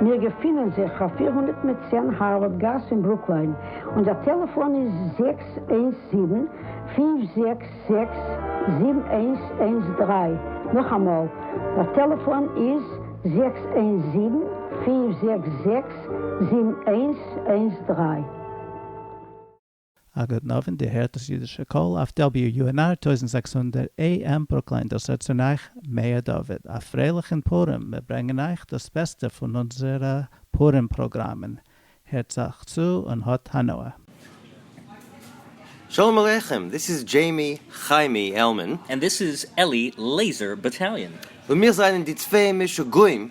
מיר געפינען זיך אויף פֿיר הונדערט מיט צען הארווארד גאס אין ברוקליין, און דער טעלעפאן איז זעקס איינס זיבן, פֿינף זעקס זעקס, זיבן איינס איינס דרײַ, נאכאמאל, דער טעלעפאן איז זעקס איינס זיבן, פֿינף זעקס זעקס, זיבן איינס איינס דרײַ. אגב נאווען די הערט דאס אידישע קול אויף WUNR טויזנט זעקס הונדערט AM ברוקלין דאס רעדט צון אייך מאיר דוד א פרייליך אין פורים מיר ברענגען אייך דאס בעסטע פון אונזערע פורים פראגראמען הערטס אייך צו און האט הנאה. שלום עליכם, דיס איז דזשעימי חיימי עלמאן. און דיס איז עלי לעיזער באטאליאן. און מיר זענען די צוויי משוגעים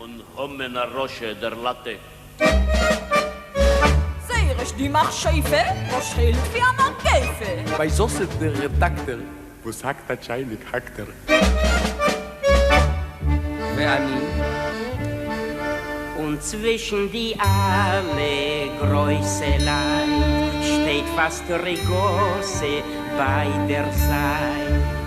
און המן הרשע דער לטה. זייער עש די מכשפה. וואס שעלט ווי א מגפה. ביי זשוסף דער רעדאקטער. וואס האקט א טשייניק האקט ער. ואני. און צווישן די אלע גרויסע לייט. שטייט פאסט ריגאסי ביי דער זייט.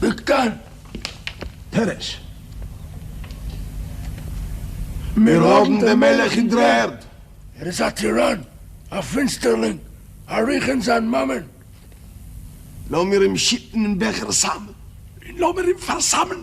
דאקטאר פערעש, מיר האבן דעם מלך אין דר'ערד! ער איז א טיראן, א פינסטערלינג, א רוח אין זיין מאמען! לאמיר אים שיטן אין בעכער סם! און לאמיר אים פארסמ'ן!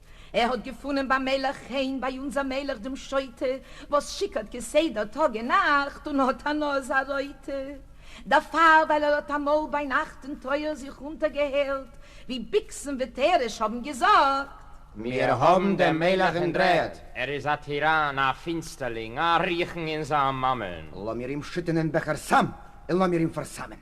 ער האט געפונען ביים מלך חן ביי אונזער מלך דעם שוטה וואס שיכור'ט כסדר טאג און נאכט און האט א נאז א רויטע דערפאר ווייל ער האט אמאל ביינאכט אין טויער זיך אונטער געהערט ווי ביקסן ותרש האבן געזאגט. מיר האבן דעם מלך אין דרערד! ער איז א טיראן, א פינסטערלינג, א רחן אין זיין מאמען! לאמיר אים שטענען בעכער סם און לאמיר אים פארסמ'ען!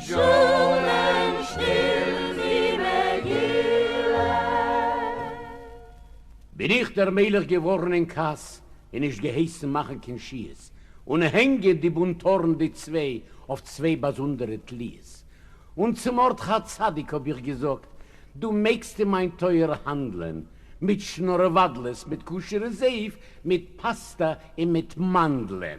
זשומען שטיל די מגילה. בין איך דער מלך געווארן אין כעס און נישט געהייסן מאכן קיין שיעס און הענגען די בונטארן די צוויי אויף צוויי באזונדערע תליות, און צו מרדכי הצדיק האב איך געזאגט, דו מעגסט אין מיין טויער האנדלען מיט שנארוואדלעס, מיט כשר'ע זיוף, מיט פאסטא און מיט מאנדלען.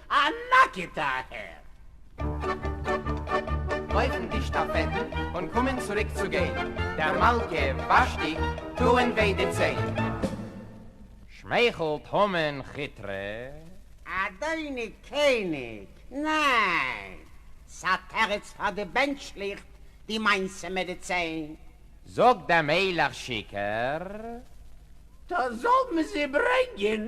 א נאקעטע אהער. לויפן די שטאפעטן און קומען צוריק צו גיין, דער מלכה ושתי טוען וויי די ציין. שמייכלט המן כיטרע. אדוני קעניג, ניין! ס'א תירוץ פאר די בענטשליכט די מעשה מיט די ציין. זאגט דער מלך שיכור. טא זאל מען זי ברענגען.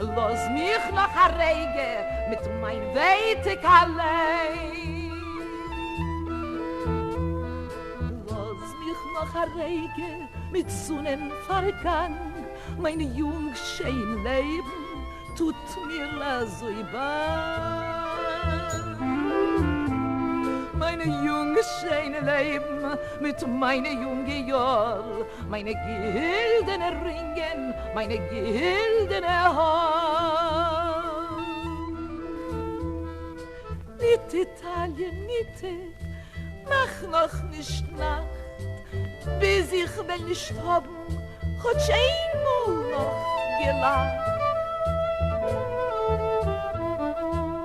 לאז מיך נאך א רגע מיט מיין ווייטיג אליין. לאז מיך נאך א רגע מיט זונען פארגאנג, מיין יונג שיין לעבן טוט מיר אזוי באנג. מיין יונג שיין לעבן מיט מיינע יונגע יאר, מיינע גילדענע רינגען, מיינע גילדענע האר. ניט איטאליע ניט איך, מאך נאך נישט נאכט, ביז איך וועל נישט האבן כאטש איין מאל נאך געלאכט.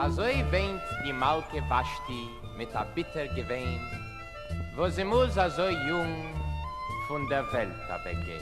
אזוי וויינט די מלכה ושתי מיט א ביטער געוויין. וואס זי מוז אזוי יונג פון דער וועלט אוועק גיין.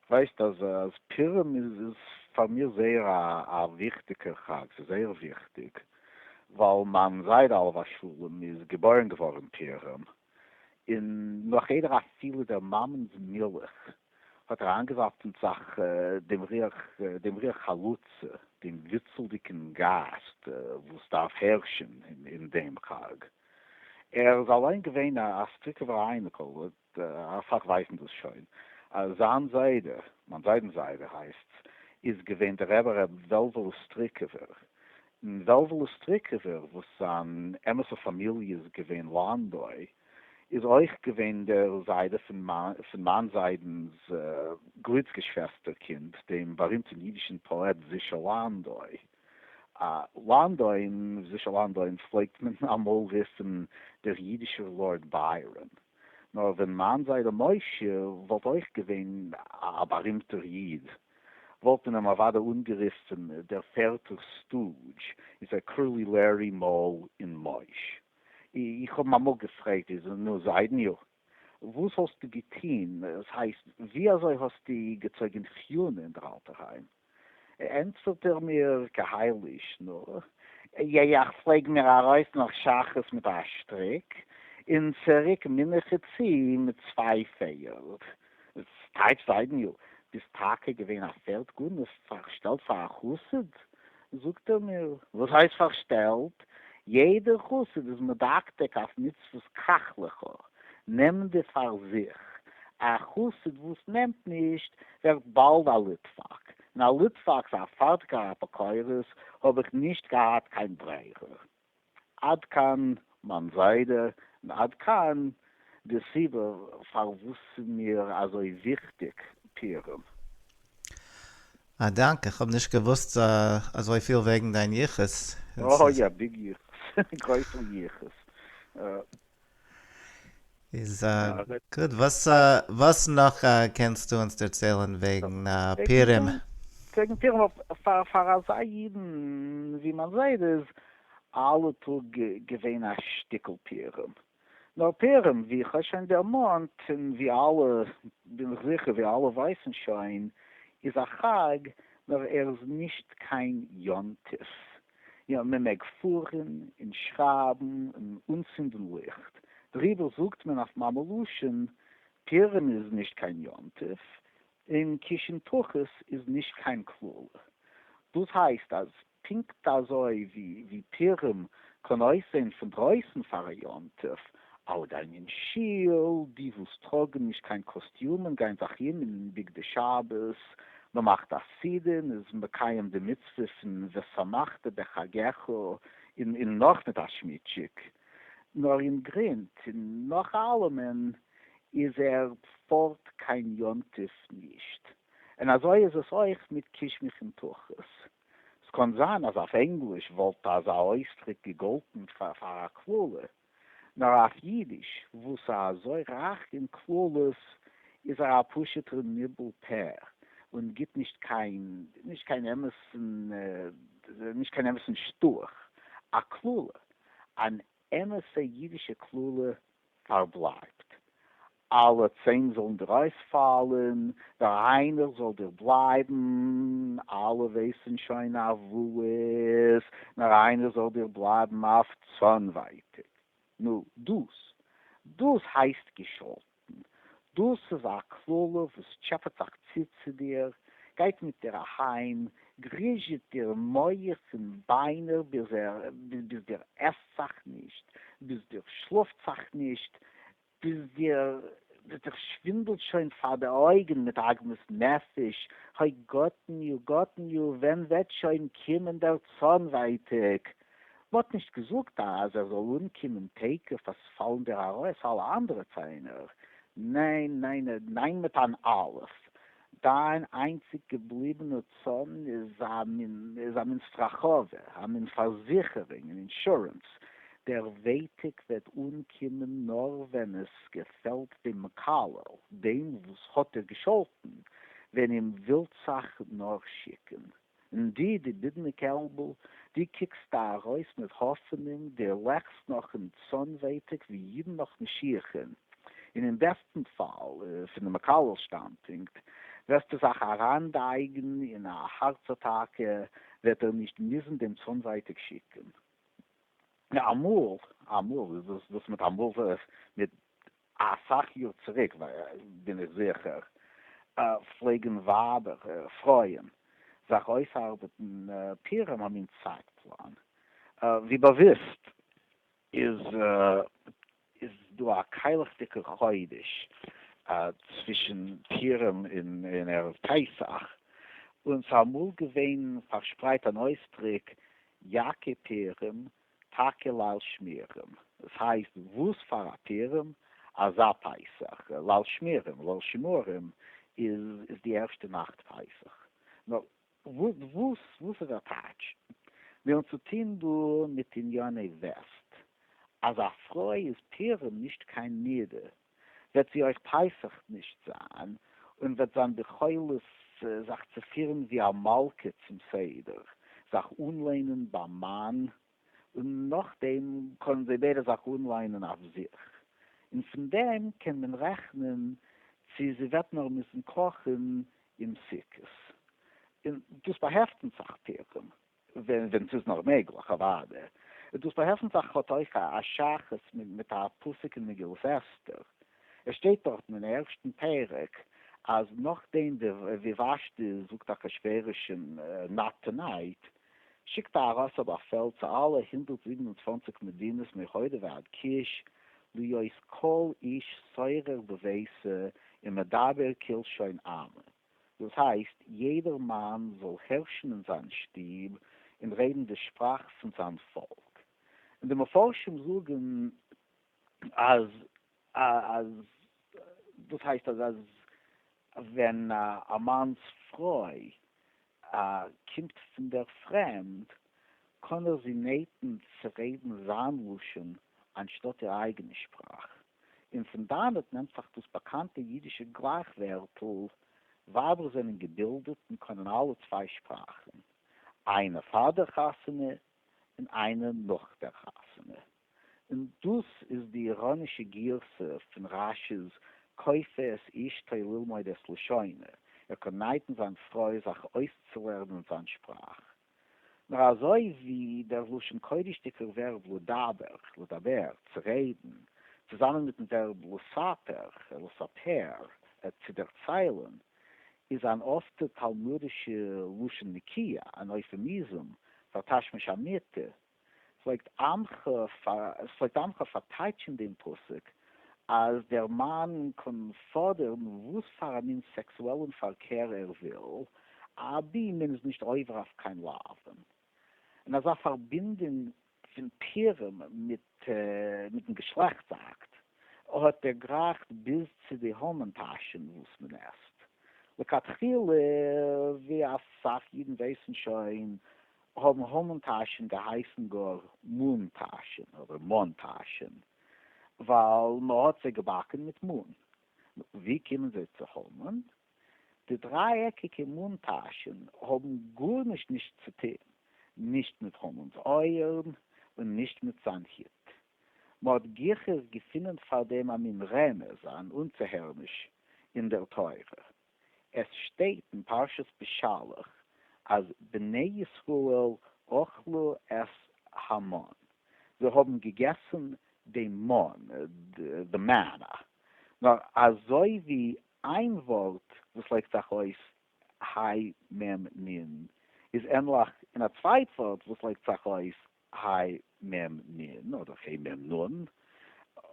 ווייסט אז אז פורים איז איז פאר מיר זייער א א וויכטיגער חג, ס'איז זייער וויכטיג, ווייל מיין זיידע עליו השלום איז געבוירן געווארן פורים, און נאך איידער אפילו דער מאמענ'ס מילך האט אריין געזאפט אין זיך דעם ריח דעם ריח חלוצה, דעם וויצלדיגן גייסט וואס דארף הערשן אין דעם חג. ער איז אליין געווען א סטריקעווער אייניקל, אַ סך ווייסן דאָס שוין. זײַן זיידע, מײַן זיידנס זיידע הייסטס, איז געווען דער רבי ר' וועלוול אוסטריקעווער. און וועלוול אוסטריקעווער, וואָס זײַן אמתע פֿאַמיליע איז געווען לאַנדוי, איז אויך געווען דער זיידע פֿון מײַן זיידנס גליצגעשוועסטערקינד, דעם באַרימטן ייִדישן פּאָעט זישע לאַנדוי. לאַנדויִן, זישע לאַנדויִן פֿלעגט מען אַ מאָל רופֿן דער ייִדישער לאָרד בײַראָן. נאר ווען מיין זיידע משה וואלט אויך געווען א בארימטער איד, וואלט מען אים אוודאי אנגערופן דער פערטער סטודזש, איז ער קראלי לערי מאל און מויש. איך האב אים אמאל געפרעגט, איז נו זיידעניו, וואס האסטו געטון, עס הייסט, ווי אזוי האסטו געצויגען חיונה אין דער אלטער היים? ענטפערט ער מיר כהאי-לישנא, נו, יא יא, איך פלעג מיר ארויס נאך שחרית מיט א שטריק, און צוריק מנחה צו מיט צוויי פערד. ס'טייטש זיידעניו, ביסט טאקע געווען א פערד גנב, פארשטעלט פאר א חסיד? זאגט ער מיר, וואס הייסט פארשטעלט? יעדער חסיד איז מדקדק אויף מצוות קח לך, נעם די פאר זיך, א חסיד וואס נעמט נישט, ווערט באלד א ליטוואק, און א ליטוואק פאר א פארטיקער אפיקורס האב איך נישט געהאט קיין ברירה. עד כאן מיין זיידע און עד כאן די סיבה פארוואס ס'מיר אזוי וויכטיג פירום. א דאנק, איך האב נישט געוואוסט אזויפיל וועגן דיין יחוס. אוי א ביג יחוס, גרויסער יחוס. איז גוט. וואס נאך קענסטו אונז דערציילן וועגן פורים? וועגן פורים, פאר אזא אידן ווי מיין זיידע איז אלע טאג געווען א שטיקל פורים. נאר פורים, ווי איך האב שוין דערמאנט, און ווי אלע, בין איך זיכער ווי אלע ווייסן שוין, איז א חג, נאר ער איז נישט קיין יום טוב. יא, מען מעג פארן און שרייבן און אנצינדן ליכט, דעריבער זאגט מען אויף מאמע לשון, פורים איז נישט קיין יום טוב, און קישן תחת איז נישט קיין קללה. דאס הייסט אז פונקט אזוי ווי פורים קען אויסזען פון דרויסן פאר א יום טוב, אַלע גײען אין שול, די װאָס טראָגן נישט קײן קאָסטיומען גײען זיך אום אין בגדי שבת, מע מאַכט אַ סעודה און איז מקיים די מצװה פֿון ושמחת בחגך און און נאָך מיט אַ שמיטשיק. נאָר אין גרונט און נאָך אַלעמען איז ער פֿאָרט קײן יום-טובֿ נישט. און אַזױ איז עס אױך מיט קישמיש און תּחוס. ס'קאָן זײַן אַז אױף ענגליש װאָלט אַזאַ אױסדרוק געגאָלטן פֿאַר אַ קללה, נאר אויף אידיש וואס איז אזוי רייך אין קללות איז ער א פשוט'ער ניבול פה און גיט נישט קיין נישט קיין אמת'ן נישט קיין אמת'ן שטאך א קללה, אן אמת'ע אידישע קללה פארבלייבט אַלע צען זאָלן דיר אױספֿאַלן, דער אײנער זאָל דיר בלײַבן. אַלע װײסן שױן אַף װאָס, נאָר אײנער זאָל דיר בלײַבן אַף צאָנװײטיק. נו, דאָס, דאָס הײסט געשאָלטן! דאָס איז אַ קללה, װאָס טשעפּעט זיך צו צו דיר, גײט מיט דיר אַהײם, גריזשעט דיר מוח און בײנער, ביז דיר עסט זיך נישט, ביז דיר שלאָפֿט זיך נישט, ביז דיר וועט זיך שווינדלט שוין פאר די אויגן מיט עגמת נפש, האי גאטן יו גאטן יו, ווען וועט שוין קומען דער צאן ווייטאג? מ'האט נישט געזאגט אז ער זאל אנקומען תיכף אז פאלן דיר ארויס אלע אנדערע ציינער, ניין ניין ניין מיט אן אלף, דיין איינציג געבליבענע צאן איז א מין סטראכאווע, א מין פארזיכערונג, אן אינשורענס. דער ווייטיק וועט אנקומען נאר ווען עס געפעלט דעם מקלל, דעם וואס האט דיר געשאלטן, ווען אים ווילט זיך נאר שיקען. און דו, דו בידנע קעלבל, דו קוקסט דאָ אַרױס מיט האָפֿענונג, דו לעקסט נאָך אין צאָן-װעטיק, װי ייִדן נאָך משיחן, און אין בעסטן פֿאַל, פֿון דעם מקהלשטאַנדפּונקט, װעסטו זיך אַרײַנדײגן אין אַ האַרץ-אַטאַקע, װעט ער נישט מוזן דעם צאָן-װעטיק שיקן. אַ מאָל, אַ מאָל, װאָס מיט אַ מאָל? מיט א סאך יאר צוריק בין איך זיכער פלעגן ווייבער, פרויען, זיך אויסארבעטן פירעם א מין צייט פלאן, ווי באוויסט איז דא א קיילעכדיגע חודש צווישן פירעם און ערב פסח, און ס'איז אמאל געווען פארשפרייט אן אויסדריק יעקי פירעם טאקע ליל שמירים, עס הייסט וואס פאר א פירם? אזא פסח, ליל שמירים, ליל שימורים, איז די ערשטע נאכט פסח. נאר וואס וואס איז אטעטש? מיר האבן צו טון דא מיט ענייני וועסט, אז א פרוי איז פירם נישט קיין נדה, וועט זי אויך פסח נישט זיין, און וועט זיין ביכולת זיך צו פירן ווי א מלכה צום סדר, זיך אנלענען ביים מאן, און נאכדעם קענען זיי ביידע זיך אנלענען אויף זיך, און פון דעם קען מען רעכנען צי זי וועט נאר מוזן קאכן אום סוכות, און דאס באהעפט אונז זיך פירן. ווען ס'איז נאר מעגליך, אוואדע. דאס באהעלפן פאך האט אויך א שייכות מיט א פסוק אין מגילת אסתר. עס שטייט דארטן אין ערשטן פרק, אז נאכדעם ווי ושתי זאגט אחשורושים נאט טו נייט, שיקט אהרש א באפעל צו אלע הונדערט זיבן און צוואַנציק מדינות מהודו ועד כוש, להיות כל איש סורר בביתו ומדבר כלשון עמו. דאס הייסט יעדער מאן זאל הערשן אין זיין שטוב און רעדן די שפראך פון זיין פאלק, און די מפרשים זאגן אז אז דאס הייסט אז אז ווען א מאנ'ס פרוי קומט פון דער פרעמד קען ער זי נעטן צו רעדן זיין לשון אנשטאט איר אייגענע שפראך. און פון דאנעט נעמט זיך דאס באקאנטע אידישע גלייך-ווערטל, ווייבער זענען געבילדעט און קענען אלע צוויי שפראכן, איינער פאר דער חתונה און איינער נאך דער חתונה. און דאס איז די איראנישע גירסא פון רשי'ס כופה את אשתו ללמוד את לשונו, ער קען נייטן זיין פרוי זיך אויסצולערנען זיין שפראך. נאר אזוי ווי דער לשון קודש'דיגער ווערב לדבר, לדבר, צו רעדן, צוזאמען מיטן ווערב לספר, לספר, צו דערציילן, איז אן אפטע תלמודישע לשון נקיה, אן אויפעמיזום פאר תשמיש אמיתי, פלעגט עם ח פארטייטשן דעם פסוק אז דער מאן קען פאדערן וואס פאר א מין סעקסועלן פארקער ער וויל, אבי מען איז נישט עובר אויף קיין לאוו. און אזא פארבינדונג פון פירם מיטן געשלעכטס אקט האט דערגרייכט ביז צו די המן טאשן וואס מען עסט. לכתחילה, ווי אסאך אידן ווייסן שוין, האבן המן טאשען געהייסן גאר מן טאשען אדער מאן טאשען, ווייל מען האט זיי געבאקן מיט מן. נו, ווי קומען זיי צו המן? די דריי-עקיגע מן טאשען האבן גארנישט נישט צו טון, נישט מיט המנ'ס אויערן און נישט מיט זיין הוט. מען האט גיכער געפונען פאר דעם א מין רמז, אן אנצוהערעניש אין דער תורה. עס שטייט אין פרשת בשלח אז בני ישראל אכלו את המן, זיי האבן געגעסן דעם מן, די מענא, נאר אזוי ווי איין ווארט וואס לייגט זיך אויס היי מ נ איז ענליך אין א צווייט ווארט וואס לייגט זיך אויס היי מ נ אדער ה' מ נ,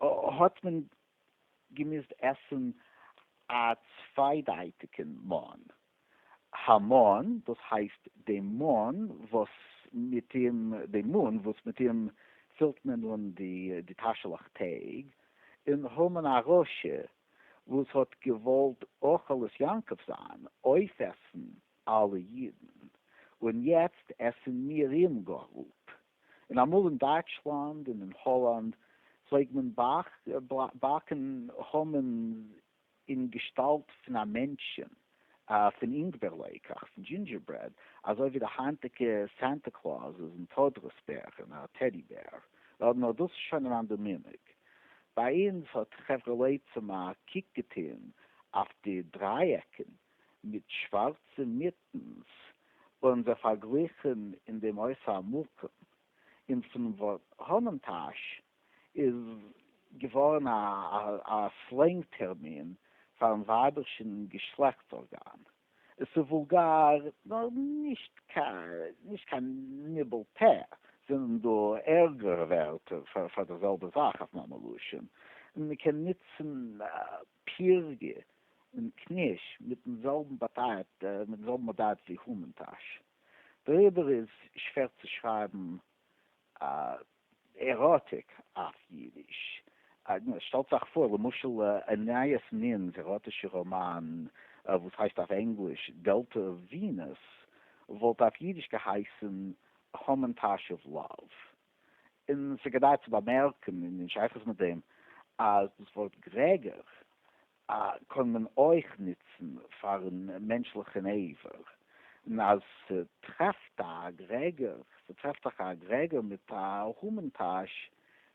האט מען געמוזט עסן א צוויידייטיגן מן המן, דאס הייסט די מן וואס מיט אים די מן וואס מיט אים פילט מען אן די תשליך טעג, און המן הרשע וואס האט געוואלט אוכל את יעקב זיין, אויפעסן אלע אידן, און יעצט עסן מיר אים גאר אפ. און אמאל אין דייטשלאנד און אין האלאנד פלעג מען באקן המנ'ס אין געשטאלט פון א מענטשען, פון אינגבערלעיקעך, פון דזשינדזשערברעד, אזוי ווי די היינטיגע סענטע קלאוזעס און טודרוס בערן, א טעדי בער. נאר דאס איז שוין אן אנדער מנהג. ביי אונז האט חברה לעצם א קוק געטוהן אויף די דריי עקן מיט שווארצע מיטנס ווערן זיי פארגליכן אין די מות המקום, און פון ווארט האמענטאש איז געווארן א סלענג טערמין פארן ווייבערשן געשלעכטס ארגאן. עס איז וואולגאר נאר נישט קיין ניבול פה. זענען דא ערגערע ווערטער פאר די זעלבע זאך אויף מאמע לשון? מען קען נוצן פירגע און קניש מיטן זעלבן באדייט מיטן זעלבן באדייט ווי המן טאש. דעריבער איז שווער צו שרייבן עראטיק אויף אידיש. שטעלטס אייך פאר למשל ענייס נין'ס עראטישע ראמאן וואס הייסט אויף ענגליש Delta Venus וואלט אויף אידיש געהייסן המן טאש אוו לאוו. און עס איז כדאי צו באמערקן אין שייכות מיט דעם אז דאס ווארט גרעגער קען מען אויך נוצן פאר'ן מענטשליכן עבר, און אז ס'טרעפט א גרעגער, ס'טרעפט זיך א גרעגער מיט א המן טאש,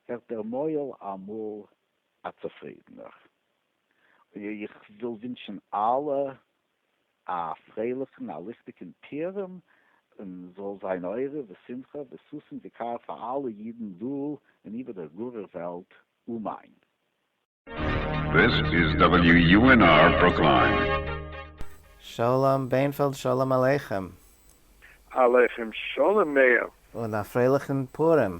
ווערט דער מוהל אמאל א צופרידענער. איך וויל ווינטשן אלע א פרייליכן א ליכטיגן פורים און זאל זיין אורה ושמחה וששון וקר פאר אלע אידן דא און איבער דער גארער וועלט, אמן. This is WUNR Brooklyn. שלום בענפעלד שלום עליכם. עליכם שלום מאיר. און א פרייליכן פורים.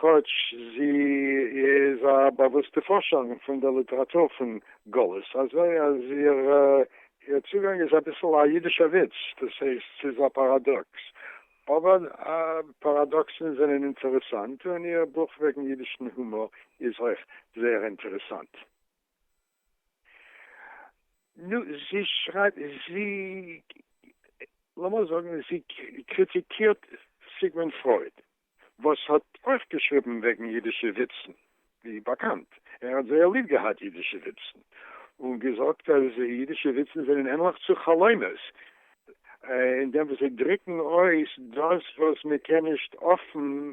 כאָטש זי איז אַ באַוווּסטע פֿאָרשערין פֿון דער ליטעראַטור פֿון גלות, אַזוי אַז איר צוגאַנג איז אַ ביסל אַ ייִדישער וויץ, דאָס הייסט, ס'איז אַ פּאַראַדאָקס. אָבער פּאַראַדאָקסן זענען אינטערעסאַנט, און איר בוך וועגן ייִדישן הומאָר איז אויך זייער אינטערעסאַנט. נו, זי שרייבט, זי, לאמיר זאגן, זי קריטיקירט סיגמונד פרויד, וואס האט אויך געשריבן וועגן אידישע וויצן, ווי באקאנט, ער האט זייער ליב געהאט אידישע וויצן, און געזאגט אז אידישע וויצן זענען ענליך צו חלומות, אין דעם וואס זיי דריקן אויס דאס וואס מען קען נישט אפן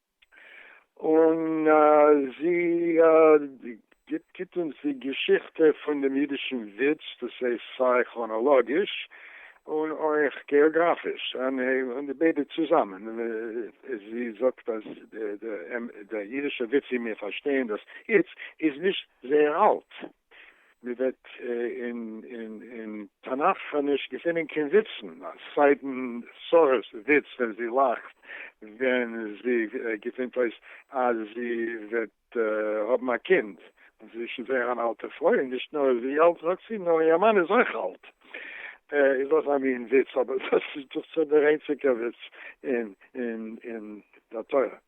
און זי גיט אונז די געשיכטע פון דעם אידישן וויץ, דאס הייסט סיי כראנאלאגיש און אויך געאגראפיש, און די ביידע צוזאמען, זי זאגט אז דער אידישער וויץ ווי מיר פארשטייען דאס איצט איז נישט זייער אלט, מען וועט אין אין תנך ח נישט געפינען קיין וויצן, סיידן שרה'ס וויץ ווען זי לאכט ווען זי געפינט אויס אז זי וועט האבן א קינד, זי איז שוין זייער אן אלטע פרוי, און נישט נאר איז זי אלט זאגט זי, נאר איר מאן איז אויך אלט, איז אויך א מין וויץ, אבער דאס איז דאך שוין דער איינציגער וויץ אין אין אין דער תורה.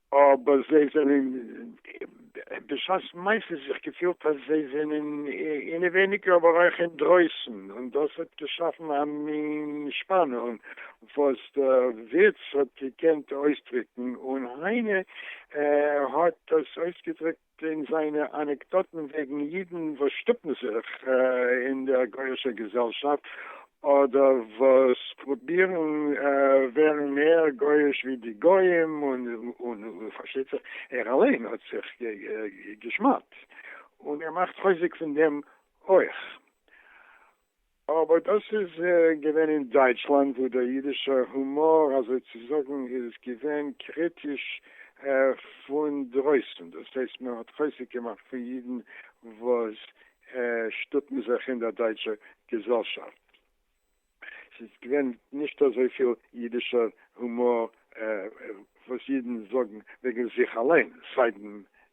אבער זיי זענען בשעת מעשה זיך געפילט אז זיי זענען אינעווייניגער אבער אויך אינדרויסן און דאס האט געשאפן א מין שפאנונג וואס דער וויץ האט געקענט אויסדריקן און היינע האט דאס אויסגעדריקט פון זיינע אנעקדאטן וועגן אידן וואס שטופן זיך אין דער גוי'אישער געזעלשאפט, אדער וואס פרובירן ווערן מער גוי'איש ווי די גויים, און פארשטייט זיך ער אליין האט זיך גע'שמד'ט, און ער מאכט חוזק פון דעם אויך. אבער דאס איז געווען אין דייטשלאנד וואו דער אידישער הומאר אזוי צו זאגן איז געווען קריטיש פון דרויסן, דאס הייסט מען האט חוזק געמאכט פון אידן וואס שטופן זיך אין דער דייטשער געזעלשאפט, עס איז געווען נישט אזוי פיל אידישער הומאר וואס אידן זאגן וועגן זיך אליין, סיידן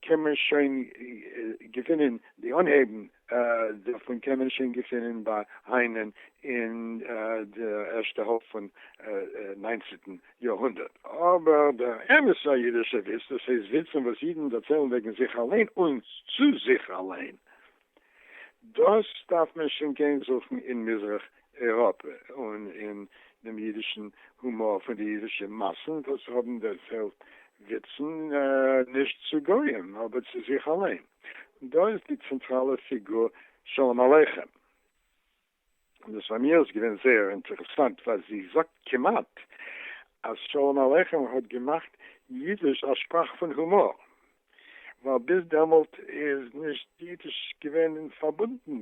קען מען שוין געפינען די אנהייבן דערפון קען מען שוין געפינען ביי היינען אין די ערשטע האלב פון ניינצענטן יאר הונדערט, אבער דער אמת'ער אידישער וויץ, דאס הייסט וויצן וואס אידן דערציילן וועגן זיך אליין און צו זיך אליין, דאס דארף מען שוין גיין זוכן אין מזרח אייראפע און אין דעם אידישן הומאר פון די אידישע מאסן וואס האבן דערציילט וויצן נישט צו גוים אבער צו זיך אליין. דא איז די צענטראלע פיגור שלום עליכם. און דאס פאר מיר איז געווען זייער אינטערעסאנט ווייל זי זאגט כמעט אז שלום עליכם האט געמאכט אידיש א שפראך פון הומאר, ווייל ביז דעמאלט איז נישט אידיש געווען פארבונדן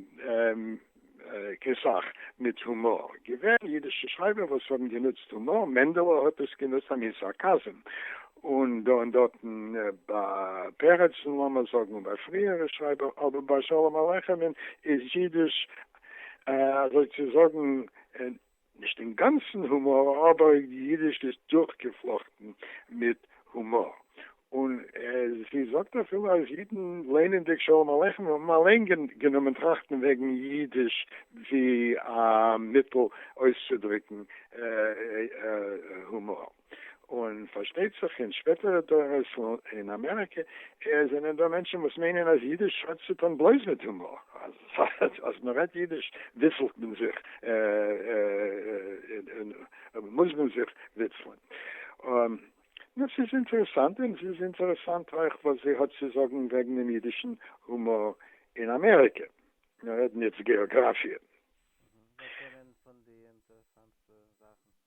קיין סאך מיט הומאר, געווען אידישע שרייבער וואס האבן גענוצט הומאר, מענדעלע האט עס גענוצט א מין סארקאזם, און דא און דארטן ביי פרצ'ן לאמער זאגן און ביי פריערע שרייבער, אבער ביי שלום עליכם'ן איז אידיש אזוי צו זאגן נישט אינגאנצן הומאר אבער אידיש איז דורכגעפלאכטן מיט הומאר און זי זאגט אפילו אז אידן ליינענדיג שלום עליכם האבן אליין גענומען טראכטן וועגן אידיש ווי א מיטל אויסצודריקן הומאר. און פארשטייט זיך אין שפעטערע דורות אין אמעריקע זענען דא מענטשן וואס מיינען אז אידיש האט צו טון בלויז מיט הומאר, אז מען רעדט אידיש וויצלט מען זיך און מוז מען זיך וויצלען. נו, ס'איז אינטערעסאנט, און ס'איז אינטערעסאנט אויך וואס זי האט צו זאגן וועגן דעם אידישן הומאר אין אמעריקע, מיר רעדן יעצט געאגראפיע. וואס זענען פון די אינטערעסאנטסטע זאכן?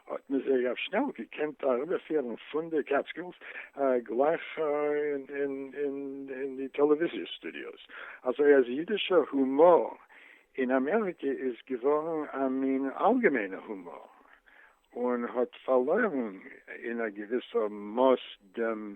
האט מען זייער שנעל געקענט אריבערפירן פון די קעטסקילס גלייך אין די טעלעוויזיע סטודיאוס, אזוי אז אידישע הומאר אין אמעריקע איז געווארן א מין אלגעמיינע הומאר, און האט פארלוירן אין א געוויסע מאס דעם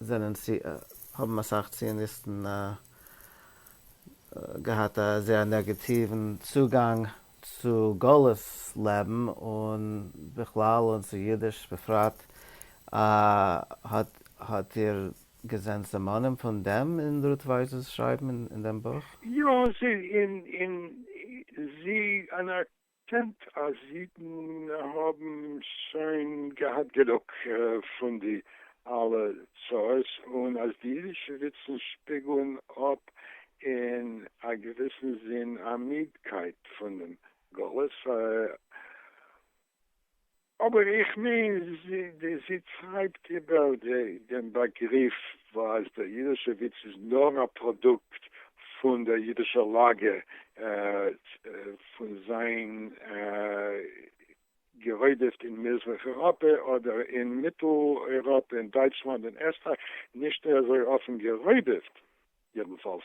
זענען צו האבן אסאך ציוניסטן געהאט א זייער נעגעטיוון צוגאנג צו גלות לעבן און בכלל און צו אידיש בפרט, האט איר געזען סימנים פון דעם אין רות ווייס'ס שרייבן אין דעם בוך? יא, און זי קענט אז אידן האבן שוין געהאט גענוג פון די אלע צרות און אז די אידישע וויצן שפיגלן אפ אין א געוויסן זין א מידקייט פונעם גלות פאר אבער איך מיין זי זי טרייבט איבער דעם באגריף וואס דער אידישע וויץ איז נאר א פראדוקט פון דער אידישער לאגע פון זיין גערוידעפט אין מזרח אייראפע אדער אין מיטל אייראפע אין דייטשלאנד אין עסטרייך נישט אזוי אפן גערוידעפט יעדנפאלס.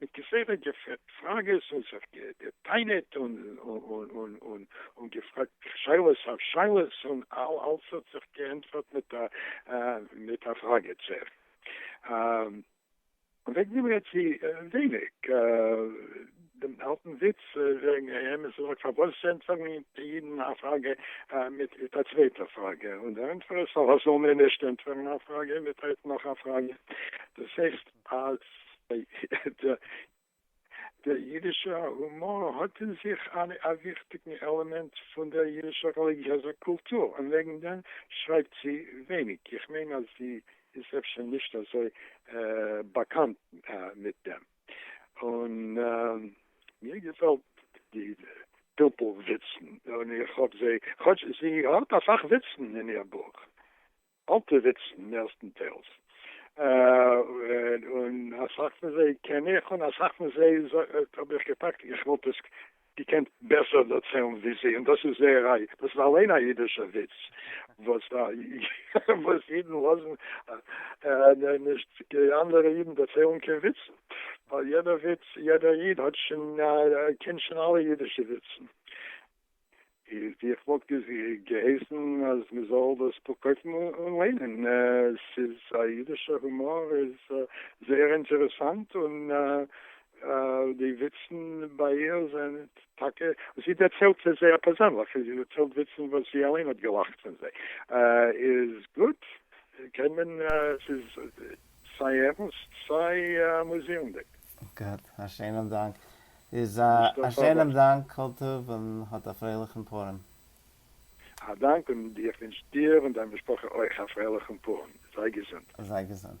מיט כסדר געפרעגט פראגעס און זיך גע'טענה'ט און געפרעגט שאלות אויף שאלות און אלס האט זיך געענטפערט מיט א פראגע צער. וועגן דעם רעדט זי ווייניג. דעם אלטן וויץ וועגן איהם איז זאג פארוואס ענטפערן די אידן א פראגע מיט א צווייטע פראגע און דער ענטפער איז פארוואס זאל מען נישט ענטפערן א פראגע מיט נאך א פראגע דאס הייסט אז דער יידישער הומאר האט אין זיך א וויכטיגן עלעמענט פון דער יידישער רעליגיעזער קולטור, און וועגן דעם שרייבט זי ווייניג. איך מיין אז זי איז אפשר נישט אזוי באקאנט מיט דעם. און מיר געפעלט די פלפול וויצן, און איך האב זיי, כאטש זי האט אסאך וויצן אין איר בוך, אלטע וויצן מערסטנטיילס, און אסאך פון זיי קען איך, און אסאך פון זיי האב איך געפאקט איך וואלט עס געקענט בעסער דערציילן ווי זי, און דאס איז זייער א, דאס איז אליין א אידישע וויץ וואס אידן לאזן נישט די אנדערע אידן דערציילן קיין וויצן, ווייל יעדער וויץ, יעדער איד האט שוין, קען שוין אלע אידישע וויצן. איך וואלט געהייסן אז מען זאל דאס קויפן און ליינען, ס'איז א אידישע הומאר, איז זייער אינטערעסאנט, און די וויצן ביי איר זענען טאקע, זי דערציילט עס זייער פערזענליך, זי דערציילט וויצן וואס זי אליין האט געלאכט פון זיי, איז גוט, קען מען, ס'איז סיי ערנסט סיי אמוזירנדיג. גוט, א שענעם דאנק. איז א נישט קיין א סארט שענעם דאנק כל טוב און האט א פרייליכן פורים. א דאנק און איך ווינטש דיר און דיין משפחה אויך א פרייליכן פורים, זיי געזונט. זיי געזונט.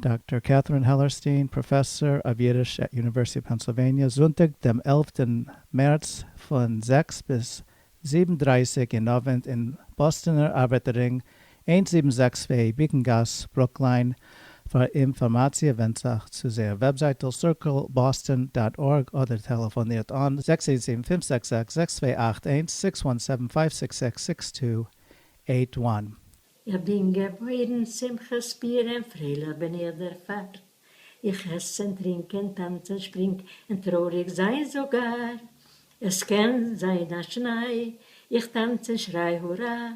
דאקטאר קעטרין העלערסטין, פראפעסאר אוו אידיש עט יוניווערסיטי אוו פענסילוועניע, זונטאג דעם עלפטן מערץ פון זעקס ביז זיבן דרייסיג אין אווענט אין באסטענער ארבייטער רינג איינס זיבן זעקס וועי ביעקן גאס ברוקליין, פאר אינפארמאציע ווענדט זיך צו זייער וועבזייטל סירקעלבאסטען דאט ארג אדער טעלעפאנירט אן זעקס איין זיבן פֿינף זעקס זעקס זעקס צוויי אַכט איינס, סיקס וואן סעווען פייוו סיקס זעקס סיקס טו עיט וואן. איך בין געבוירן שמחה שפירען פרייליך בין איך דערפאר איך עסן טרינקען טאנצען שפרינג אין טרויריג זיין זאגאר עס קען זיין א שניי איך טאנץ אין שריי הורא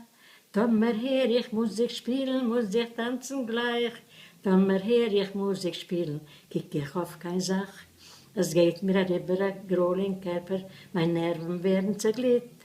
טאמער הער איך מוזיק שפילן מוז איך טאנצן גלייך טאמער הער איך מוזיק שפילן קוק איך אויף קיין זאך עס גייט מיר אריבער א גרויל אין קערפער מיין נערוון ווערן צעגליט.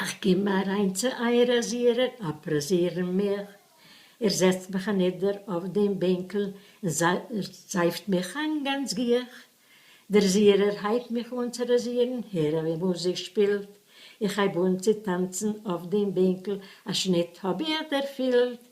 איך קום אַרײַן צו אײַער אַזירער, אַפּראָזירן מיך. ער זעצט מיך אַנידער אױף דעם בענקל און זײַפֿט מיך אײַן גאַנץ גיך. דער זירער הײבט מיך אָן צו ראַזירן, הער װי מוזיק שפּילט. איך הײב אָן צו טאַנצן אױף דעם בענקל, אַ שניט האָב איך דערפֿילט.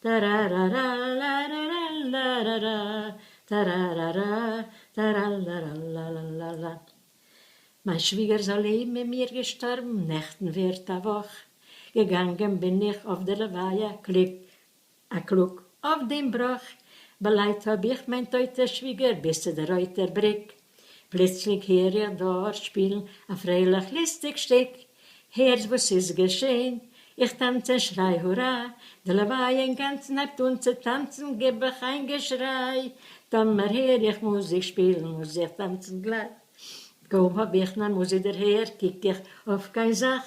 טארארארא לארארא לארארא טארארארא טאראלאלאלאלאלאלא מיין שוויגער זאל לעבן אין מיר געשטארבן נעכטן ווערט א וואך געגאנגען בין איך אויף די לוויה קליג א קלאג אויף דעם בראך באלייט האב איך מיין טויטע שוויגער ביז צו די רויטע בריק. פלוצלינג הער איך דארט שפילן א פרייליך ליסטיג שטיק, הערסט וואס ס'איז געשען? איך טאנץ און שריי הורא, די לוויה אינגאנצן הייבט אן צו טאנצן, גיב איך איין געשריי, טאמער הער איך מוזיק שפילן מוז איך טאנצן גלייך, קוים האב איך נאר מוזיק דערהערט קוק איך אויף קיין זאך,